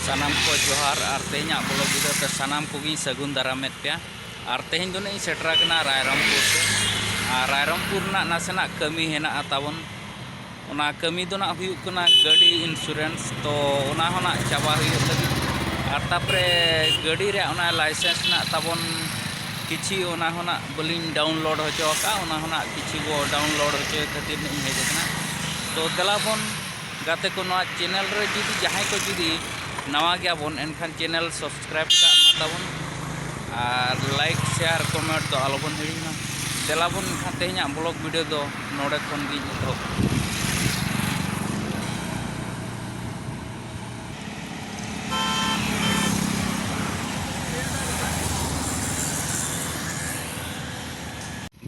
ᱥᱟᱱᱟᱢ ᱠᱚ ᱡᱚᱦᱟᱨ ᱟᱨ ᱛᱮᱦᱮᱧᱟᱜ ᱵᱚᱞᱚ ᱵᱤᱰᱟᱹᱣ ᱛᱮ ᱥᱟᱱᱟᱢ ᱠᱚᱜᱮᱧ ᱥᱟᱹᱜᱩᱱ ᱫᱟᱨᱟᱢᱮᱫ ᱯᱮᱭᱟ ᱟᱨ ᱛᱮᱦᱮᱧ ᱫᱚ ᱱᱟᱜ ᱤᱧ ᱥᱮᱴᱮᱨ ᱟᱠᱟᱱᱟ ᱨᱟᱭᱨᱚᱝᱯᱩᱨ ᱛᱮ ᱟᱨ ᱨᱟᱭᱨᱚᱝᱯᱩᱨ ᱨᱮᱱᱟᱜ ᱱᱟᱥᱮᱱᱟᱜ ᱠᱟᱹᱢᱤ ᱦᱮᱱᱟᱜᱼᱟ ᱛᱟᱵᱚᱱ ᱚᱱᱟ ᱠᱟᱹᱢᱤ ᱫᱚ ᱱᱟᱜ ᱦᱩᱭᱩᱜ ᱠᱟᱱᱟ ᱜᱟᱹᱰᱤ ᱤᱱᱥᱩᱨᱮᱱᱥ ᱛᱚ ᱚᱱᱟ ᱦᱚᱸ ᱱᱟᱜ ᱪᱟᱵᱟ ᱦᱩᱭᱩᱜ ᱞᱟᱹᱜᱤᱫ ᱟᱨ ᱛᱟᱯᱚᱨᱮ ᱜᱟᱹᱰᱤ ᱨᱮᱭᱟᱜ ᱚᱱᱟ ᱞᱟᱭᱥᱮᱱᱥ ᱱᱟᱜ ᱛᱟᱵᱚᱱ ᱠᱤᱪᱷᱤ ᱚᱱᱟ ᱦᱚᱸ ᱱᱟᱜ ᱵᱟᱹᱞᱤᱧ ᱰᱟᱣᱩᱱᱞᱳᱰ ᱦᱚᱪᱚ ᱟᱠᱟᱫᱼᱟ ᱚᱱᱟ ᱦᱚᱸ ᱱᱟᱜ ᱠᱤᱪᱷᱤ ᱵᱚ ᱰᱟᱣᱩᱱᱞᱳᱰ ᱦᱚᱪᱚᱭ ᱠᱷᱟᱹᱛᱤᱨ ᱱᱟᱜ ᱤᱧ ᱦᱮᱡ ᱟᱠᱟᱱᱟ ᱛᱚ ᱫᱮᱞᱟ ᱵᱚᱱ ᱜᱟᱛᱮ ᱠᱚ ᱱᱚᱣᱟ ᱪᱮᱱᱮᱞ ᱨᱮ ᱡᱩᱫᱤ ᱡᱟᱦᱟᱸᱭ ᱠᱚ ᱡᱩᱫᱤ ᱱᱟᱣᱟ ᱜᱮᱭᱟᱵᱚᱱ ᱮᱱᱠᱷᱟᱱ ᱪᱮᱱᱮᱞ ᱥᱟᱵᱥᱠᱨᱟᱭᱤᱵᱽ ᱠᱟᱜ ᱢᱟ ᱛᱟᱵᱚᱱ ᱟᱨ ᱞᱟᱭᱤᱠ ᱥᱮᱭᱟᱨ ᱠᱚᱢᱮᱱᱴ ᱫᱚ ᱟᱞᱚ ᱵᱚᱱ ᱦᱤᱲᱤᱧ ᱢᱟ ᱫᱮᱞᱟ ᱵᱚᱱ ᱮᱱᱠᱷᱟᱱ ᱛᱮᱦᱮᱧᱟᱜ ᱵᱞᱚᱜᱽ ᱵᱷᱤᱰᱤᱭᱳ ᱫᱚ ᱱᱚᱰᱮ ᱠᱷᱚᱱ ᱜᱤᱧ ᱮᱛᱚᱦᱚᱵ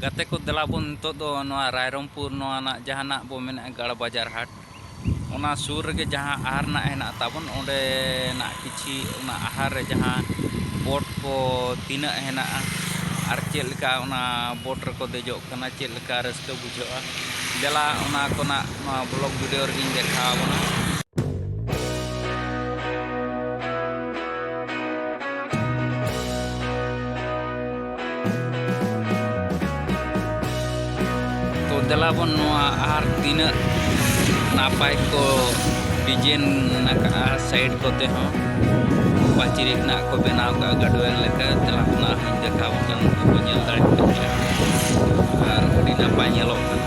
ᱜᱟᱛᱮ ᱠᱚ ᱫᱮᱞᱟ ᱵᱚᱱ ᱱᱤᱛᱚᱜ ᱫᱚ ᱱᱚᱣᱟ ᱨᱟᱭᱨᱚᱝᱯᱩᱨ ᱱᱚᱣᱟ ᱨᱮᱱᱟᱜ ᱡᱟᱦᱟᱱᱟᱜ ᱵᱚ ᱢᱮᱱᱮᱫᱼᱟ ᱜᱟᱲ ᱵᱟᱡᱟᱨ ᱦᱟᱴ ᱚᱱᱟ ᱥᱩᱨ ᱨᱮᱜᱮ ᱡᱟᱦᱟᱸ ᱟᱦᱟᱨ ᱨᱮᱱᱟᱜ ᱦᱮᱱᱟᱜ ᱛᱟᱵᱚᱱ ᱚᱸᱰᱮᱱᱟᱜ ᱠᱤᱪᱷᱤ ᱚᱱᱟ ᱟᱦᱟᱨ ᱨᱮ ᱡᱟᱦᱟᱸ ᱵᱳᱴ ᱠᱚ ᱛᱤᱱᱟᱹᱜ ᱦᱮᱱᱟᱜᱼᱟ ᱟᱨ ᱪᱮᱫ ᱞᱮᱠᱟ ᱚᱱᱟ ᱵᱳᱴ ᱨᱮᱠᱚ ᱫᱮᱡᱚᱜ ᱠᱟᱱᱟ ᱪᱮᱫ ᱞᱮᱠᱟ ᱨᱟᱹᱥᱠᱟᱹ ᱵᱩᱡᱷᱟᱹᱜᱼᱟ ᱫᱮᱞᱟ ᱚᱱᱟ ᱠᱚᱨᱮᱱᱟᱜ ᱱᱚᱣᱟ ᱵᱞᱚᱜᱽ ᱵᱷᱤᱰᱤᱭᱳ ᱨᱮᱜᱮᱧ ᱫᱮᱠᱷᱟᱣ ᱟᱵᱚᱱᱟ ᱛᱚ ᱫᱮᱞᱟ ᱵᱚᱱ ᱱᱚᱣᱟ ᱟᱨ ᱛᱤᱱᱟᱹᱜ ᱱᱟᱯᱟᱭ ᱠᱚ ᱰᱤᱡᱟᱭᱤᱱ ᱟᱠᱟᱫᱼᱟ ᱥᱟᱭᱤᱰ ᱠᱚᱛᱮ ᱦᱚᱸ ᱯᱟᱹᱪᱤᱨ ᱨᱮᱱᱟᱜ ᱠᱚ ᱵᱮᱱᱟᱣ ᱟᱠᱟᱫᱼᱟ ᱜᱟᱰᱣᱮᱞ ᱞᱮᱠᱟ ᱫᱮᱞᱟ ᱚᱱᱟ ᱦᱚᱸᱧ ᱫᱮᱠᱷᱟᱣ ᱠᱟᱱ ᱠᱚ ᱧᱮᱞ ᱫᱟᱲᱮᱭᱟᱜ ᱠᱟᱱ ᱜᱮᱭᱟ ᱟᱨ ᱟᱹᱰᱤ ᱱᱟᱯᱟᱭ ᱧᱮᱞᱚᱜ ᱠᱟᱱᱟ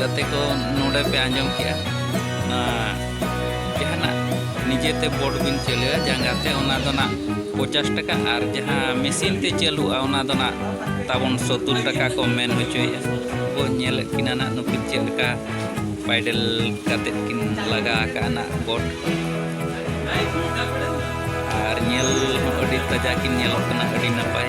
ᱜᱟᱛᱮ ᱠᱚ ᱱᱚᱰᱮ ᱯᱮ ᱟᱸᱡᱚᱢ ᱠᱮᱜᱼᱟ ᱡᱟᱦᱟᱱᱟᱜ ᱱᱤᱡᱮᱛᱮ ᱵᱳᱴ ᱵᱤᱱ ᱪᱟᱹᱞᱩᱭᱟ ᱡᱟᱸᱜᱟᱛᱮ ᱚᱱᱟ ᱫᱚ ᱱᱟᱜ ᱯᱚᱪᱟᱥ ᱴᱟᱠᱟ ᱟᱨ ᱡᱟᱦᱟᱸ ᱢᱮᱥᱤᱱ ᱛᱮ ᱪᱟᱹᱞᱩᱜᱼᱟ ᱚᱱᱟ ᱫᱚ ᱱᱟᱜ ᱛᱟᱵᱚᱱ ᱥᱚᱛᱩᱨ ᱴᱟᱠᱟ ᱠᱚ ᱢᱮᱱ ᱦᱚᱪᱚᱭᱮᱜᱼᱟ ᱠᱚ ᱧᱮᱞᱮᱫ ᱠᱤᱱᱟ ᱱᱟᱜ ᱱᱩᱠᱤᱱ ᱪᱮᱫ ᱞᱮᱠᱟ ᱯᱟᱭᱰᱮᱞ ᱠᱟᱛᱮᱫ ᱠᱤᱱ ᱞᱟᱜᱟ ᱟᱠᱟᱜᱼᱟ ᱱᱟᱜ ᱵᱳᱴ ᱟᱨ ᱧᱮᱞ ᱦᱚᱸ ᱟᱹᱰᱤ ᱛᱟᱡᱟ ᱠᱤᱱ ᱧᱮᱞᱚᱜ ᱠᱟᱱᱟ ᱟᱹᱰᱤ ᱱᱟᱯᱟᱭ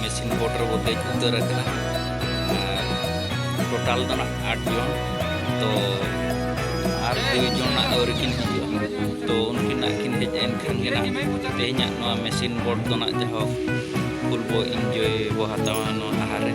ᱢᱮᱥᱤᱱ ᱵᱳᱴ ᱨᱮᱵᱚ ᱫᱮᱡ ᱩᱛᱟᱹᱨ ᱟᱠᱟᱱᱟ ᱴᱳᱴᱟᱞ ᱫᱚ ᱱᱟᱜ ᱟᱴ ᱡᱚᱱ ᱛᱚ ᱟᱨ ᱫᱩᱭ ᱡᱚᱱ ᱱᱟᱜ ᱟᱹᱣᱨᱤ ᱠᱤᱱ ᱦᱤᱡᱩᱜᱼᱟ ᱛᱚ ᱩᱱᱠᱤᱱ ᱱᱟᱜ ᱠᱤᱱ ᱦᱮᱡ ᱮᱱ ᱠᱷᱟᱱ ᱜᱮ ᱱᱟᱜ ᱛᱮᱦᱮᱧᱟᱜ ᱱᱚᱣᱟ ᱢᱮᱥᱤᱱ ᱵᱳᱴ ᱫᱚ ᱱᱟᱜ ᱡᱟᱦᱳᱠ ᱯᱷᱩᱞ ᱵᱚ ᱤᱱᱡᱚᱭ ᱵᱚ ᱦᱟᱛᱟᱣᱟ ᱱᱚᱣᱟ ᱟᱦᱟᱨ ᱨᱮ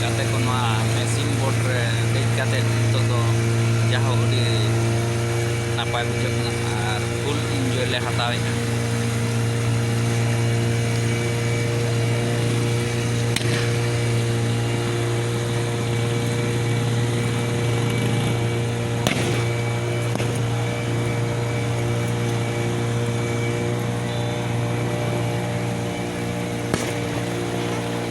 ᱜᱟᱛᱮ ᱠᱚ ᱱᱚᱣᱟ ᱢᱮᱥᱤᱱ ᱵᱳᱴ ᱨᱮ ᱫᱮᱡ ᱠᱟᱛᱮ ᱱᱤᱛᱚᱜ ᱫᱚ ᱡᱟᱦᱳ ᱟᱹᱰᱤ ᱱᱟᱯᱟᱭ ᱵᱩᱡᱷᱟᱹᱜ ᱠᱟᱱᱟ ᱟᱨ ᱯᱷᱩᱞ ᱤᱱᱡᱚᱭ ᱞᱮ ᱦᱟᱛᱟᱣᱮᱫᱼᱟ